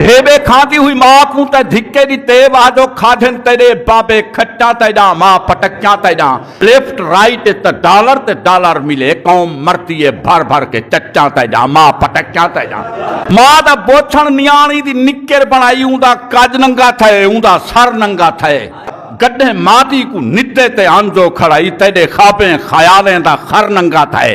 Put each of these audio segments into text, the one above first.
بھیبے کھاندی ہوئی ماں کوں تے دھکے دی تے واہ جو کھادھن تیرے بابے کھٹا تے جاں ماں پٹکیاں تے جاں لیفٹ رائٹ تے ڈالر تے ڈالر ملے قوم مرتی ہے بھر بھر کے چچاں تے جاں ماں پٹکیاں تے جاں ماں دا بوچھن نیانی دی نکر بنائی اون دا کج ننگا تھے اون دا سر ننگا تھے گڈھے ماں دی کو ندے تے آنجو کھڑائی تیرے خوابیں خیالیں دا خر ننگا تھے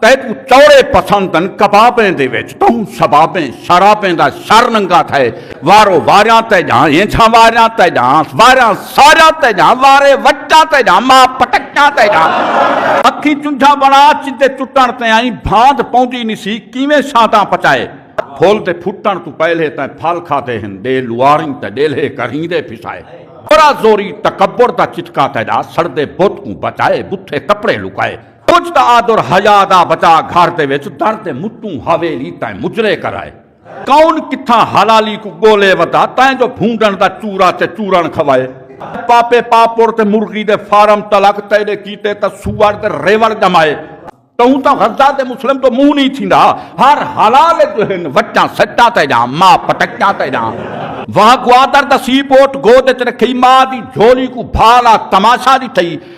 تیکوں چوڑے پسند ہن کبابیں دے وچ تہوں سبابیں شرابیں دا شر ننگا تھئے وارو واریاں تے جاں اینجھاں واریاں تے جاں واریاں ساریاں تے جاں وارے وچاں تے جاں ماں پٹکیاں تے جاں اکھیں چنجھاں بنا چدے چٹن تے آئیں بھاند پوندی نسی کیویں شاداں پچائے پھول دے پھٹن تو پہلے تیں پھل کھا دے ہن ڈے لواریں تے ڈیلھے کریں دے پھسائے برا زوری تکبر دا چتکا تے جاں سڑ دے بت کوں بچائے بتھے کپڑے لکائے کجھ تاں آدر حیا دا بچا گھر دے وچ در دے مٹوں حویلی تائیں مجرے کرائے کون کتھاں حلالی کوں گولے ودا تائیں جو بھونڈن دا چورا چے چورن کھوائے پاپے پاپور تے مرغی دے فارم تلک تیرے کیتے تا سوار دے ریور جمائے۔ تہوں تاں غزہ دے مسلم تو منہ نہیں تھیندا ہر حلال جو ہن وٹاں سٹاں تے جاں ماں پٹکاں تے جاں۔ واہ گوادر دا سی پورٹ گود وچ رکھئی ماں دی جھولی کوں بھالا تماشا ڈٹھئی۔